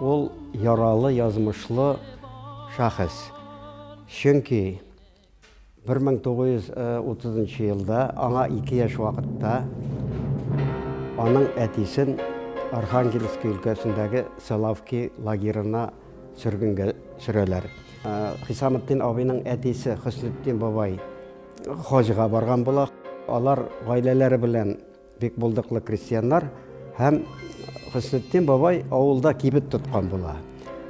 Ул яралы язмышлы шәхес. Чөнки 1930 елда аңа ике яшь вакытта аның әтисен Архангельск өлкәсендәге Селавки лагерына сөргенгә сөрәләр. Хисаметдин абыйның әтисе Хөснетдин бабай хаҗга барган була. Алар гаиләләре белән Бик булдыклы крестьяннар һәм Хөснетдин бабай авылда кибет тоткан була.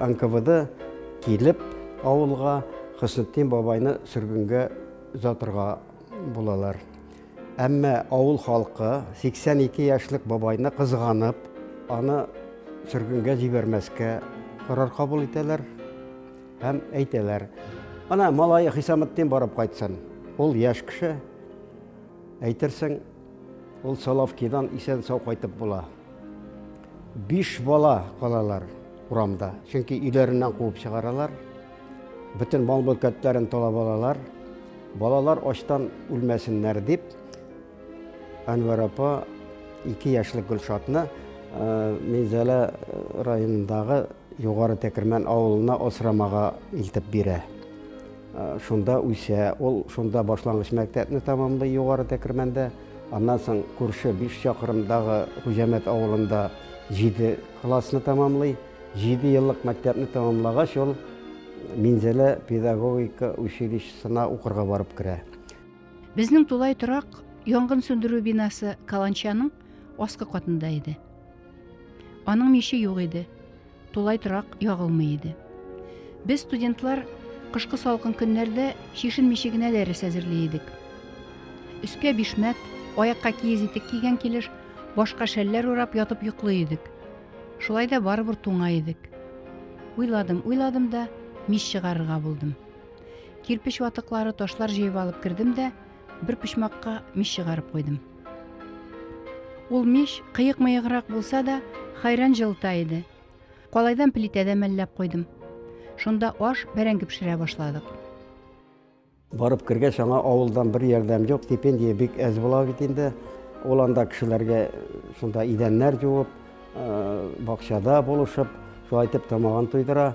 НКВД килеп авылга Хөснетдин бабайны сөргенгә озатырга булалар. Әмма авыл халкы 82 яшьлек бабайны кызганып, аны сөргенгә җибәрмәскә карар кабул итәләр һәм әйтәләр. Ана малае Хисаметдин барып кайтсын. Ул яшь кеше. Әйтерсең, Ул Соловкидан исән-сау кайтып була. Биш бала калалар урамда, чөнки өйләреннән куып чыгаралар. Бөтен мал-мөлкәтләрен талап алалар. Балалар ачтан үлмәсеннәр дип, Әнвәр апа ике яшьлек Гөлшатны э, Минзәлә э, районындагы Югары Тәкермән авылына асрамага илтеп бирә. Шунда үсә. Ул шунда башлангыч мәктәпне тәмамлый Югары Тәкермәндә. Аннан соң күрше биш чакрымдагы Хуҗәмәт авылында җиде классны тәмамлый. Җиде еллык мәктәпне тәмамлагач, ул Минзәлә педагогика училищесына укырга барып керә. Безнең тулай торак янгын сүндерү бинасы каланчаның аскы катында иде. Аның миче юк иде. Тулай торак ягылмый иде. Без студентлар кышкы салкын көннәрдә чишенмичә генә дәрес әзерли идек. Өскә бишмәт, аякка киез итек кигән килеш, башка шәлләр урап ятып йоклый идек. Шулай да барыбер туңа идек. Уйладым, уйладым да, мич чыгарырга булдым. Кирпеч ватыклары, ташлар җыеп алып кердем дә, Бер почмакка мич чыгарып куйдым. Ул мич кыек-мыеграк булса да, хайран җылыта иде. Калайдан плитәдә мәлләп куйдым. Шунда аш, бәрәңге пешерә башладык. Барып кергәч, аңа авылдан бер ярдәм юк, стипендия бик әз була бит инде. Ул анда кешеләргә шунда идәннәр җуып, бакчада булышып, шулай итеп тамагын туйдыра.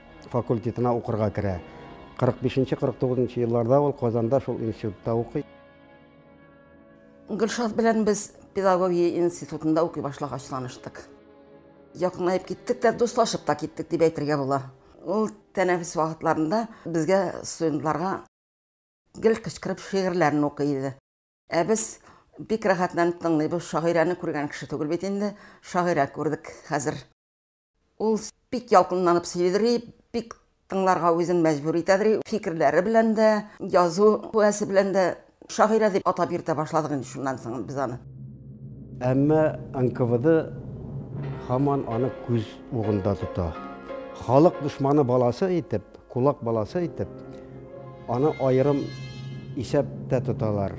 факультетына укырга керә. 45-49 нчы елларда ул Казанда шул институтта укый. Гөлшат белән без педагогия институтында укый башлагач таныштык. Якынлаеп киттек тә, дуслашып та киттек дип әйтергә була. Ул тәнәфес вакытларында безгә студентларга гел кычкырып шигырьләрен укый иде. Ә без бик рәхәтләнеп тыңлыйбыз, шагыйрәне күргән кеше түгел бит инде, шагыйрә күрдек хәзер. Ул бик ялкынланып сөйлидри, бик тыңларга үзен мәҗбүр итәдри, фикерләре белән дә, язу куәсе белән дә шагыйрә дип атап йөртә башладык инде шуннан соң без аны. Әмма НКВД һаман аны күз угында тота. Халык дошманы баласы итеп, Кулак баласы итеп, аны аерым исәптә тоталар.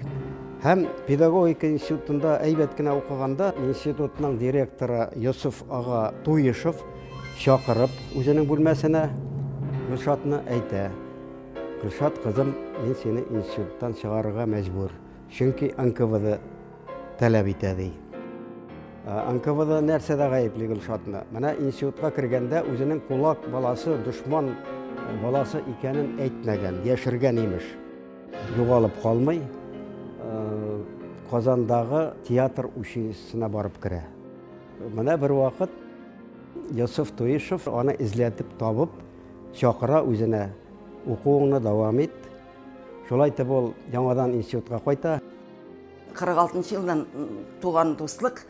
Һәм педагогика институтында әйбәт кенә укыганда институтның директоры Йосыф ага Туешев чакырып үзенең бүлмәсенә Гөлшатны әйтә. Гөлшат кызым, мин сине институттан чыгарырга мәҗбүр. Чөнки НКВД таләп итә, ди. НКВД нәрсәдә гаепли Гөлшатны? Менә институтка кергәндә үзенең кулак баласы, дошман баласы икәнен әйтмәгән, яшергән имеш. Югалып калмый, Казандагы театр училищесына барып керә. Менә бервакыт Йосыф Туишев аны эзләтеп табып, чакыра үзенә, укуыңны дәвам ит, Шулай итеп ул яңадан институтка кайта. 46 елдан туган дуслык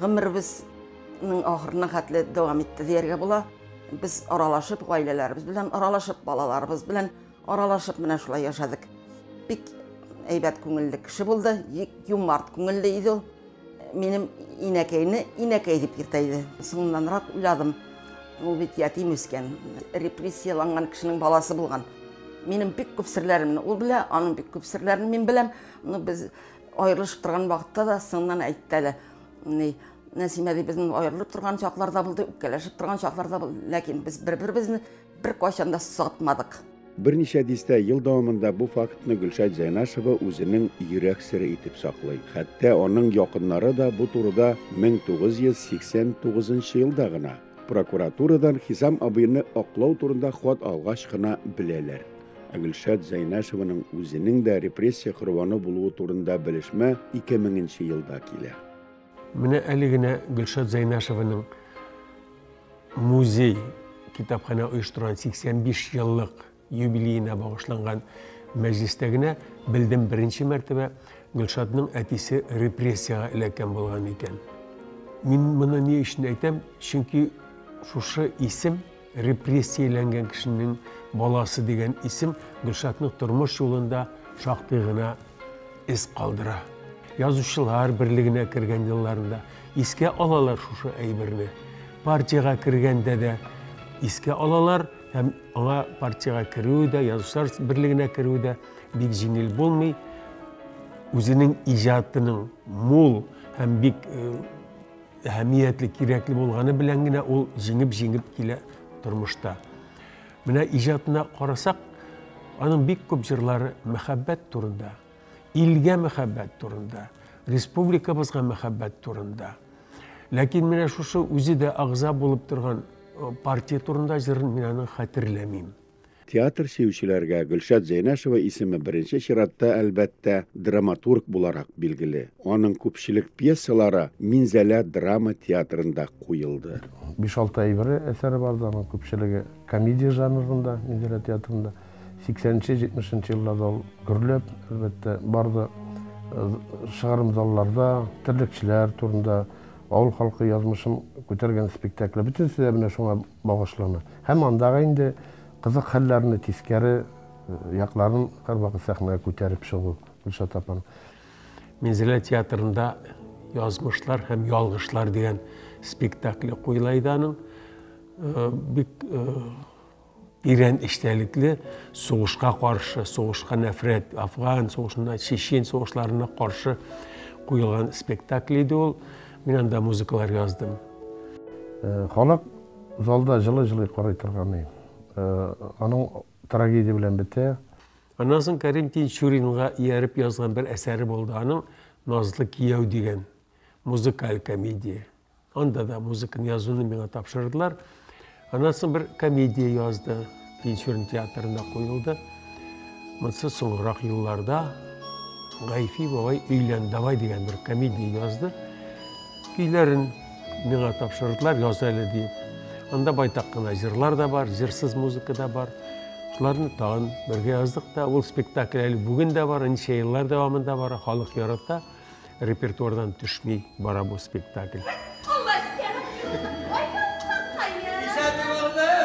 гомеребезнең ахырына хәтле дәвам итте дияргә була. Без аралашып, гаиләләребез белән аралашып, балаларыбыз белән аралашып менә шулай яшәдек. Бик әйбәт күңелле кеше булды, юмарт күңелле иде ул. Минем инәкәйне инәкәй дип йөртә иде. Соңыннанрак уйладым, ул бит ятим үскән, репрессияланган кешенең баласы булган. Минем бик күп серләремне ул белә, аның бик күп серләрен мин беләм. Ну, без аерылышып торган вакытта да соңыннан әйтте әле. Ни, Нәсимә ди, безнең аерылып торган чакларда булды, үпкәләшеп торган чакларда булды, ләкин без бер-беребезне Бер кайчан да сатмадык. Берничә дистә ел дәвамында бу фактны Гөлшат Зәйнашева үзенең йөрәк сере итеп саклый. Хәтта аның якыннары да бу турыда 1989 елда гына, прокуратурадан Хисам абыйны аклау турында хат алгач кына беләләр. Ә Гөлшат Зәйнашеваның үзенең дә репрессия корбаны булуы турында белешмә 2000 нче елда килә. Менә әле генә Гөлшат Зәйнәшеваның музей китапханә оештырган 85 еллык юбилеена багышланган мәҗлестә генә белдем беренче мәртәбә Гөлшатның әтисе репрессиягә эләккән булган икән. Мин моны ни өчен әйтәм? Чөнки шушы исем Репрессияләнгән кешенең баласы дигән исем Гөлшатның тормыш юлында шактый гына эз калдыра. Язучылар берлегенә кергән елларында искә алалар шушы әйберне. Партиягә кергәндә дә искә алалар һәм аңа партиягә керүе дә, язучылар берлегенә керүе дә бик җиңел булмый. Үзенең иҗатының мул һәм бик э, әһәмиятле, кирәкле булганы белән генә ул җиңеп-җиңеп килә тормышта. Менә иҗатына карасак, аның бик күп җырлары мәхәббәт турында, илгә мәхәббәт турында, республикабызга мәхәббәт турында. Ләкин менә шушы үзе дә агза булып торган партия турында җырын мин аны хәтерләмим. Театр сөючеләргә Гөлшат Зәйнәшева исеме беренче чиратта, әлбәттә, драматург буларак билгеле. Аның күпчелек пьесалары Минзәлә драма театрында куелды. Биш-алты әйберле әсәре бардыр, аның күпчелеге комедия жанрында, Минзәлә театрында. Сиксәненче, җитмешенче елларда ул гөрләп, әлбәттә, барды. Чыгарым залларда терлекчеләр турында, авыл халкы язмышын күтәргән спектакле, бөтенесе дә менә шуңа Багышлана. Һәм андагы инде кызык хәлләрне, тискәре якларын һәрвакыт сәхнәгә күтәреп чыгу, Гөлшат апаның. Минзәлә театрында Язмышлар һәм ялгышлар дигән спектакле куела иде аның. Э, бик э, тирән эчтәлекле сугышка каршы, сугышка нәфрәт, афган сугышына, чечен сугышларына каршы куелган спектакль иде ул. Мин анда музыкалар яздым. Э, халык залда жылы-жылы карый торган ей. Э, аның трагедия белән бетә. Аннан соң Кәрим Тинчуринга ияреп язган бер әсәре булды. Аның Назлы кияү дигән музыкаль комедия. Анда да музыканы язуны миңа тапшырдылар. Аннан соң бер комедия язды, Тинчурин театрында куелды. Монсы соңрак елларда Гайфи бабай өйлән давай дигән бер комедия язды. Көйләрен миңа тапшырдылар, яз әле диеп. Анда байтак кына җырлар да бар, җырсыз музыка да бар. Шуларны тагын бергә яздык та. Ул спектакль әле бүген дә бар, ничә еллар дәвамында бара, халык ярата. Репертуардан төшми бара бу спектакль.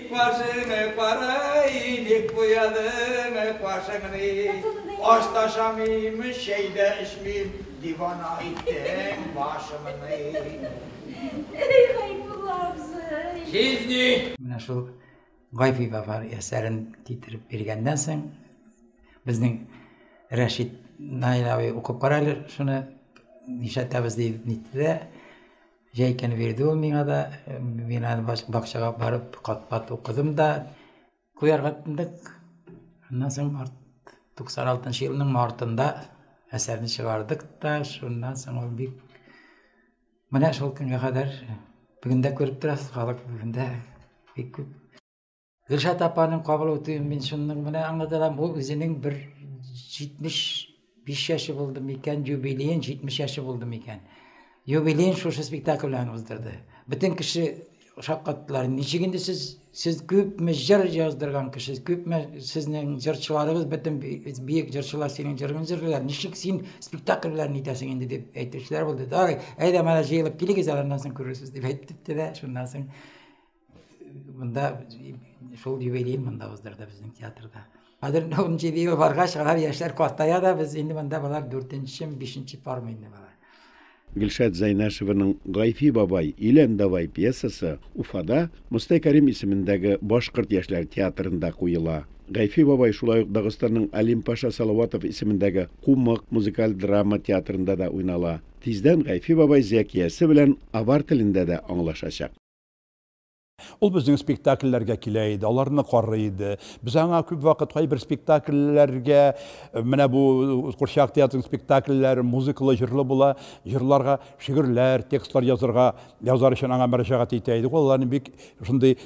Башыңны карай, ник буядың башыңны? Аш та ашамыйм, чәй дә эчмим, дивана иттең башымны. Әй, Гайбулла абзый! Җизни! Менә шул Гайфи Вафар әсәрен китереп биргәннән соң, безнең Рәшит Наил абый укып кара әле шуны, нишләтәбез дип нитте дә, җәйкәне бирде ул миңа да, мин аны бакчага барып кат-кат укыдым да, куярга тындык. Аннан соң 96 елның мартында әсәрне чыгардык та, шуннан соң ул бик Менә шул көнгә кадәр бүген дә күреп торасыз, халык бүген дә бик күп. Гөлшат апаның кабул үтүен мин шуның менә аңлатам, ул үзенең бер 75 яше булды микән, юбилеен 70 яше булды микән. Юбилеен шушы спектакль белән уздырды. Бөтен кеше Шаккаттылар. Ничек инде сез сез күпме җыр яздырган кеше, күпме сезнең җырчыларыгыз бөтен биек җырчылар синең җырыңны җырлыйлар. Ничек син спектакль белән итәсең инде дип әйтүчеләр булды. Дары, әйдә менә җыелып килегез, аннан соң күрерсез дип әйтте дә, шуннан соң монда шул юбилей монда уздырды безнең театрда. Хәзер инде ун җиде ел баргач, алар яшьләр картая да, без инде монда болар дүртенчеме, бишенче пармы инде болар. Гөлшат Зәйнәшеваның Гайфи бабай, Илән давай пьесасы Уфада Мостай Кәрим исемендәге башкорт яшьләр театрында куела. Гайфи бабай шулай ук Дагыстанның Алим Паша Салаватов исемендәге Кумык музыкаль драма театрында да уйнала. Тиздән Гайфи бабай Зәкиясе белән авар телендә дә аңлашачак. Ул безнең спектакльләргә килә иде, аларны карый иде. Без аңа күп вакыт кайбер спектакльләргә, э, менә бу курчак театрының спектакльләре музыкалы, җырлы була, җырларга шигырьләр, текстлар язырга, язар өчен аңа мөрәҗәгать итә идек. Ул аларны бик шундый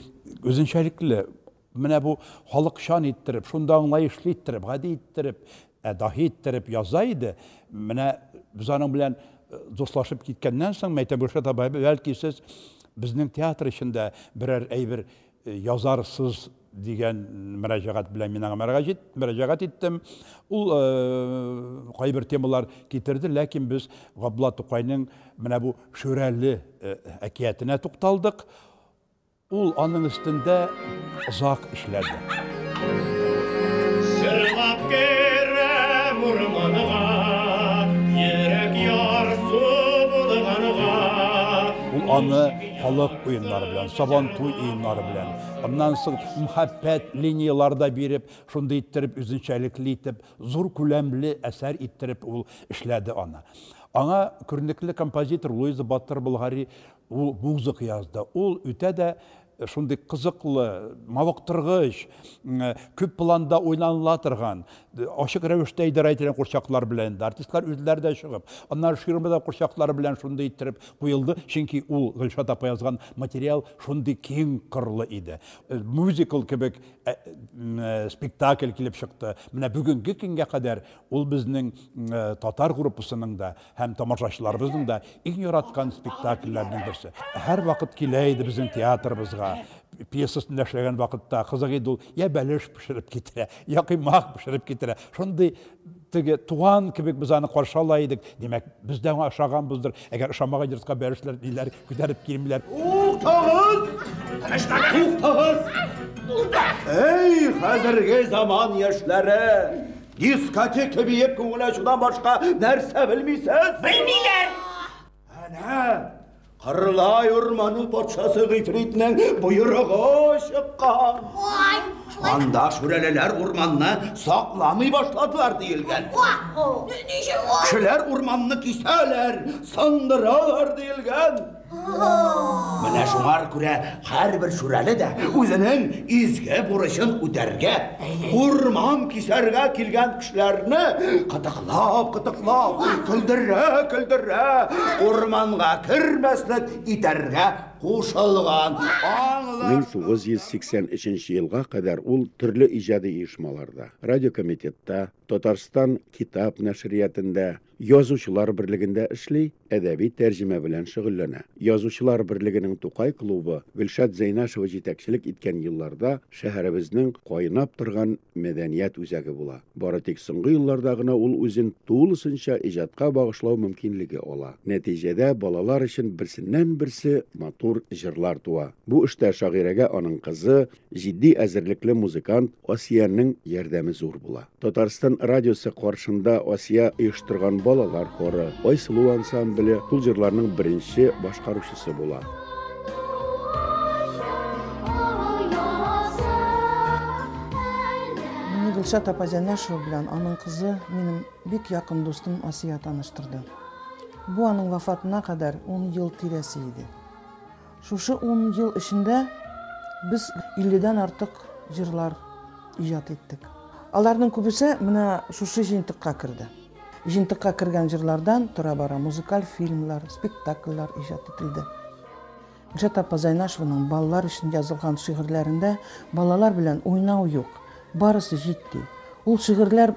үзенчәлекле Менә бу халыкчан иттереп, шундый аңлаешлы иттереп, гади иттереп, ә даһи иттереп яза иде. Менә без аның белән э, дуслашып киткәннән соң, Мәйтә Гөлшат абай, бәлки сез безнең театр эчендә берәр әйбер э, язарсыз дигән мөрәҗәгать белән мин аңа мөрәҗәгать иттем. Ул э, кайбер темалар китерде, ләкин без Габдулла Тукайның менә бу Шүрәле әкиятенә тукталдык. Ул аның өстендә озак эшләде. Җырлап керәм урманга, Йөрәк ярсу булганга. Ул аны халык уеннары белән, Сабантуй уеннары белән, аннан соң мхәббәт линияләре дә биреп, шундый иттереп, үзенчәлекле итеп, зур күләмле әсәр иттереп ул эшләде аны. Аңа күренекле композитор Луиза Батыр-Болгари Ул музыка язды. Ул үтә дә шундый кызыклы, мавыктыргыч, күп планда уйланыла торган, ачык рәвештә идарә ителгән курчаклар белән дә, артистлар үзләре дә чыгып, аннары ширма да курчаклары белән шундый иттереп куелды, чөнки ул Гөлшат апа язган материал шундый киң кырлы иде. Мюзикл кебек спектакль килеп чыкты. Менә бүгенге көнгә кадәр ул безнең татар группасының да Һәм тамашачыларыбызның да иң яраткан спектакльләренең берсе. Һәр вакыт килә иде безнең театрыбызга. Пьесасында эшләгән вакытта кызык иде ул. Я бәлеш пешереп китерә, я кыймак пешереп китерә. Шундый теге туган кебек без аны каршы ала идек. Димәк, без дә аңа ошаганбыздыр. Әгәр ошамаган йортка бәлешләр ниләр күтәреп килмиләр. Туктагыз! Туктагыз! Әй, хәзерге заман яшьләре! Дискотека биеп күңел ачудан башка нәрсә белмисез? Белмиләр! Әнә! Кырлай урманы патшасы гыйфритнең боерыгы чыккан. Ой! Анда шүрәлеләр урманны сакламый башладылар диелгән. Кешеләр урманны кисәләр, сындыралар диелгән. Менә шуңа күрә һәрбер шүрәле дә үзенең изге бурычын үтәргә, урман кисәргә килгән кешеләрне кытыклап, кытыклап, көлдерә, көлдерә, урманга кермәслек итәргә кушылган. Аңлар. 1983 елга кадәр ул төрле иҗади оешмаларда, радиокомитетта, Татарстан китап нәшриятендә, Язучылар берлегендә эшли, әдәби тәрҗемә белән шөгыльләнә. Язучылар берлегенең Тукай клубы Гөлшат Зәйнашева җитәкчелек иткән елларда шәһәребезнең кайнап торган мәдәният үзәге була. Бары тик соңгы елларда гына ул үзен тулысынча иҗатка багышлау мөмкинлеге ала. Нәтиҗәдә балалар өчен берсеннән-берсе матур җырлар туа. Бу эштә шагыйрәгә аның кызы, Җитди әзерлекле музыкант Асиянең ярдәме зур була. Татарстан радиосы каршында Асия оештырган балалар хоры, Айсылу ансамбле шул җырларның беренче башкаручысы була. Мине Гөлшат апа Зәнәшева белән аның кызы, минем бик якын дустым Асия таныштырды. Бу аның вафатына кадәр 10 ел тирәсе иде. Шушы ун ел эчендә без 50 дән артык җырлар иҗат иттек. Аларның күбесе менә шушы җыентыкка керде. Җыентыкка кергән җырлардан тора-бара музыкаль фильмлар, спектакльләр иҗат ителде. Гөлшат апа Зайнашеваның балалар өчен язылган шигырьләрендә балалар белән уйнау юк, барысы җитди. Ул шигырьләр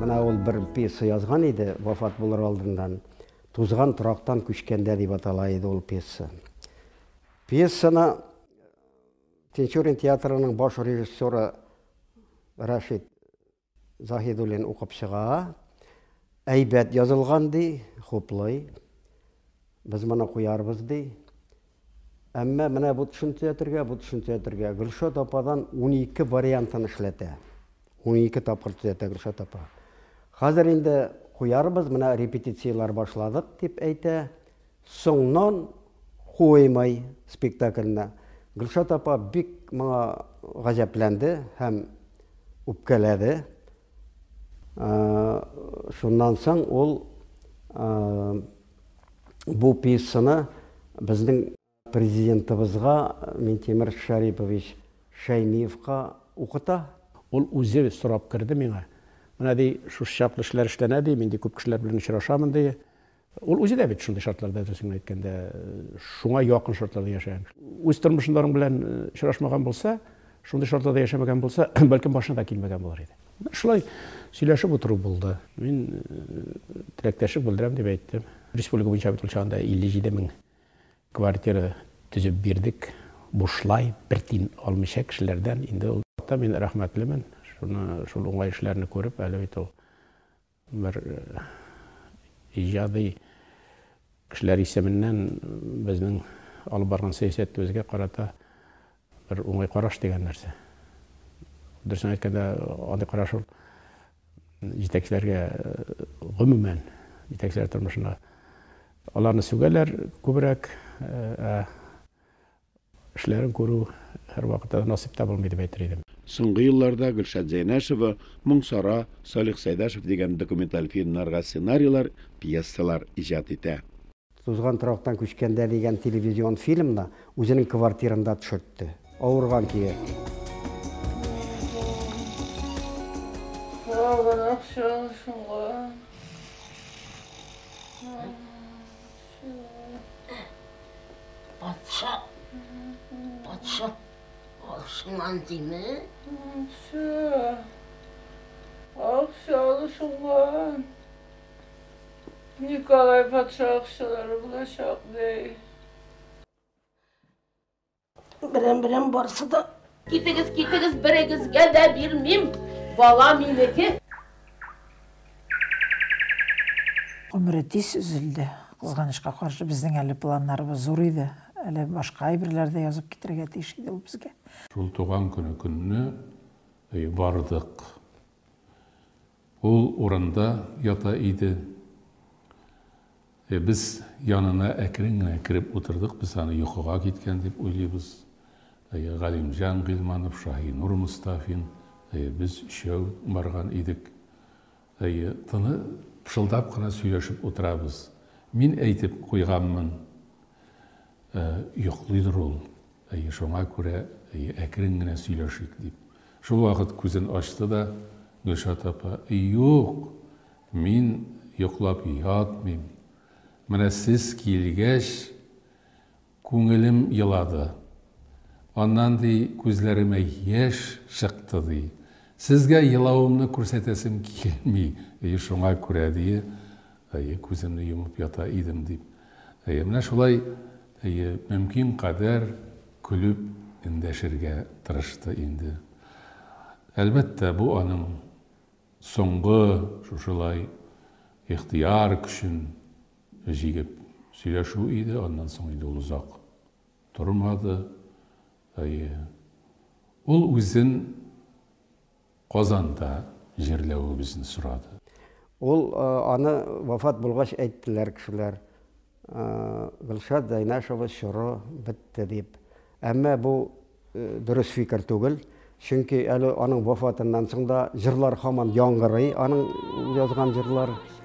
Менә ул бер пьеса язган иде, вафат булыр алдыннан. Тузган торактан күчкәндә дип атала иде ул пьеса. Пьесаны Тинчурин театрының баш режиссеры Рашид Заһидуллин укып чыга. Әйбәт язылган ди, хуплый. Без моны куярбыз ди. Әмма менә бу төшенчә ятергә, бу төшенчә ятергә. Гөлшат ападан 12 вариантын эшләтә. 12 тапкыр төзәтә Гөлшат апа. Хәзер инде куярбыз, менә репетицияләр башладык, дип әйтә. Соңнан куймай спектакльне. Гөлшат апа бик моңа гаҗәпләнде һәм үпкәләде. Шуннан соң ул бу пьесаны безнең Президентыбызга Минтимер Шәрипович Шәймиевка укыта. Ул үзе сорап керде миңа. Менә, ди, шушы чаклы эшләр эшләнә, ди, мин, ди, күп кешеләр белән очрашамын, ди. Ул үзе дә бит шундый шартларда, дөресен генә әйткәндә, шуңа якын шартларда яшәгән. Үз тормышында аның белән очрашмаган булса, шундый шартларда яшәмәгән булса, бәлкем башына да килмәгән булыр иде. Менә шулай сөйләшеп утыру булды. Мин теләктәшлек белдерәм дип әйттем. Республика буенча бит ул чагында 57 мең квартира төзеп бирдек. Бушлай, бер тин алмыйча кешеләрдән. Инде ул вакытта мин рәхмәтлемен. Шуны, шул уңай эшләрне күреп, әле бит ул Бер иҗади кешеләр исеменнән безнең алып барган сәясәтебезгә карата бер уңай караш дигән нәрсә. Дөресен әйткәндә, андый караш ул җитәкчеләргә гомумән, җитәкчеләр тормышына аларны сүгәләр күбрәк, ә Эшләрен күрү һәрвакыт та насыйп та булмый дип әйтер идем. Соңгы елларда Гөлшат Зәйнәшева, Моң Сара, Салих Сәйдәшев дигән документаль фильмнарга сценарийлар, пьесалар иҗат итә. Тузган торактан күчкәндә дигән телевизион фильмны үзенең квартирында төшертте. Авырган көе. Калган акча шуңа. Патша, патша, ашман дими. Все. Акчалы шуңган. Николай патша акчалары булачак, дей. Берәм-берәм барсы да. Китегез, китегез, берегезгә дә бирмим. Бала минеке. Гомере тиз өзелде. Кызганычка каршы, безнең әле планнарыбыз зур иде. Әле башка әйберләр дә язып китерергә тиеш иде ул безгә. Шул туган көне көнне бардык. Ул урында ята иде. Э, без янына әкрен генә кереп утырдык, без аны йокыга киткән дип уйлыйбыз. Э, Галимҗан Гыйльманов, Шаһинур Мостафин, э, без өчәү барган идек. Э, тыны пышылдап кына сөйләшеп утырабыз. Мин әйтеп куйганмын, э, йоклыйдыр ул, Әйе, шуңа күрә, әйе, әкрен генә сөйләшик, дип, шул вакыт күзен ачты да Гөлшат апа, Юк, мин йоклап ятмыйм. Менә сез килгәч, күңелем елады. Аннан, ди, күзләремә яшь чыкты, ди. Сезгә елавымны күрсәтәсем килми, әйе, шуңа күрә, ди, Әйе, күземне йомып ята идем, дип. Әйе, менә шулай, әйе, мөмкин кадәр көлеп эндәшергә тырышты инде. Әлбәттә, бу аның соңгы шушылай ихтыяр көчен җигеп сөйләшү иде, аннан соң инде ул озак тормады. Әйе, ул үзен Казанда җирләвебезне сорады. Ул аны вафат булгач әйттеләр кешеләр, Гөлшат Зәйнәшева чоры бетте дип. Әмма бу дөрес фикер түгел, чөнки әле аның вафатыннан соң да җырлар һаман яңгырый, аның язган җырлары.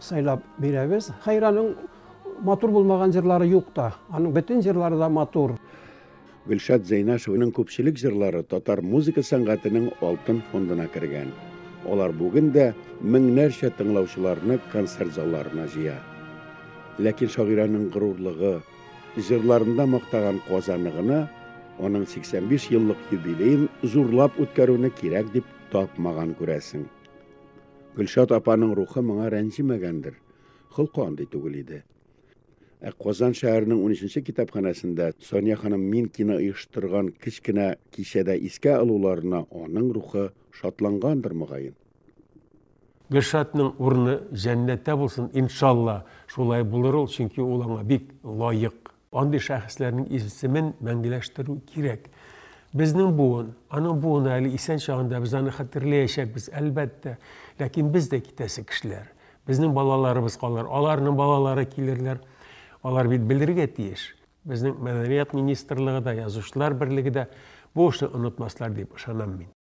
Сайлап бирәбез. Хайраның матур булмаган җырлары юк та. Аның бөтен җырлары да матур. Гөлшат Зәйнашевның күпчелек җырлары татар музыка сәнгатенең алтын фондына кергән. Алар бүген дә меңнәрчә тыңлаучыларны концерт залларына җыя. Ләкин шагыйрәнең горурлыгы, җырларында мактаган Казаны гына аның 85 еллык юбилеен зурлап үткәрүне кирәк дип тапмаган күрәсең. Гөлшат апаның рухы моңа рәнҗемәгәндер, холкы андый түгел иде. Ә Казан шәһәренең 13-нче китапханәсендә Соня ханым Минкина оештырган кечкенә кичәдә искә алуларына аның рухы шатлангандыр мөгаен. Гөлшатның урыны җәннәттә булсын, иншалла. Шулай булыр ул, чөнки ул аңа бик лаек. Андый шәхесләрнең исемен мәңгеләштерү кирәк. Безнең буын, аның буыны әле исән чагында без аны хәтерләячәкбез, әлбәттә. Ләкин без дә китәсе кешеләр. Безнең балаларыбыз калыр, аларның балалары килерләр. Алар бит белергә тиеш. Безнең мәдәният министрлыгы да, язучылар берлеге дә бу эшне онытмаслар дип ышанам мин.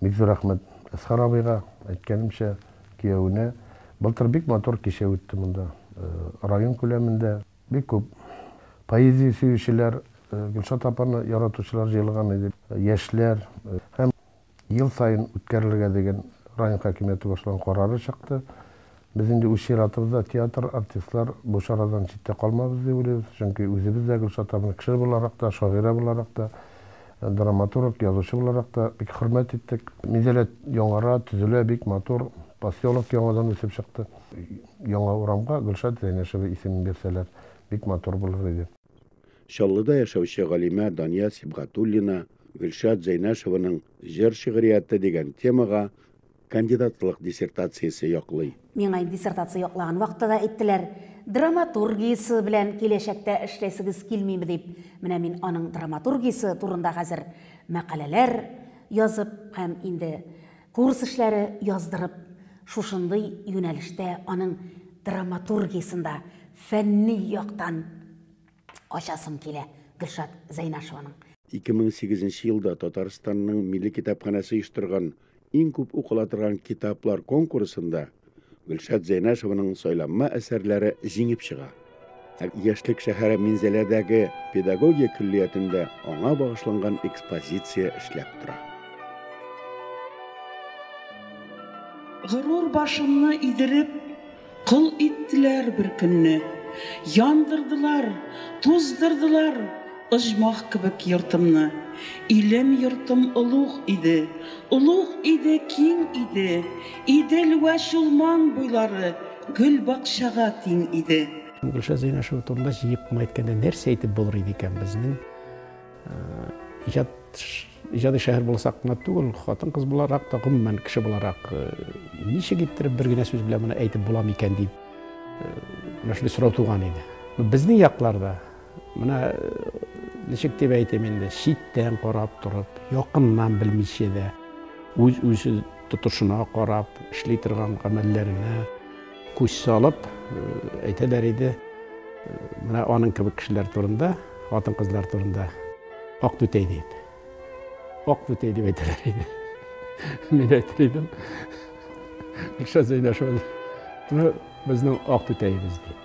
Бик зур рәхмәт Әсхар абыйга, әйткәнемчә, киявенә. Былтыр бик матур кичә үтте монда, район күләмендә. Бик күп поэзия сөючеләр, Гөлшат апаны яратучылар җыелган иде. Яшьләр һәм ел саен үткәрелергә дигән район хакимияте башлаган карары чыкты. Без инде үз чиратыбызда театр, артистлар, бу чарадан читтә калмабыз дип уйлыйбыз, чөнки үзебез дә Гөлшат апаны кеше буларак та, шагыйрә буларак та, драматург, язучы буларак та бик хөрмәт иттек. Минзәләт яңара, төзелә, бик матур, поселок яңадан үсеп чыкты. Яңа урамга Гөлшат Зәйнәшева исемен бирсәләр, бик матур булыр иде. Чаллыда яшәүче галимә Дания Сибгатуллина Гөлшат Зәйнәшеваның җыр-шигърияте дигән темага Кандидатлык диссертациясе яклый. Миңа диссертация яклаган вакытта да әйттеләр, драматургиясе белән киләчәктә эшләсегез килмиме дип. Менә мин аның драматургиясе турында хәзер мәкаләләр язып һәм инде курс эшләре яздырып, шушындый юнәлештә аның драматургиясен дә фәнни яктан Ачасым килә Гөлшат Зәйнашеваның. 2008 нче елда Татарстанның Милли китапханәсе оештырган Иң күп укыла торган китаплар конкурсында Гөлшат Зәйнашеваның сайланма әсәрләре җиңеп чыга. Ә Яшьлек шәһәре Минзәләдәге педагогия көллиятендә аңа багышланган экспозиция эшләп тора. Горур башымны идереп. Кол иттеләр бер көнне. Яндырдылар, туздырдылар оҗмах кебек йортымны. Илем-йортым олуг иде, олуг иде, киң иде. Идел вә Чулман буйлары гөл-бакчага тиң иде. Гөлшат Зәйнәшева турында җыеп кына әйткәндә нәрсә әйтеп булыр иде икән? Безнең иҗат Иҗади шәһәр буласак кына түгел, хатын-кыз буларак та, гомумән, кеше буларак, ничек иттереп бер генә сүз белән моны әйтеп була микән дип, менә шундый сорау туган иде. Безнең якларда, менә ничек дип әйтим инде, читтән карап торып, якыннан белмичә дә, үз-үзе тотышына карап, эшли торган гамәлләренә, Күз салып, әйтәләр иде, менә аның кебек кешеләр турында, хатын-кызлар турында ак түтәй дип. Ак түтәй дип әйтәләр иде. Мин әйтер идем. Гөлшат Зәйнәшева. Безнең ак түтәебез дип.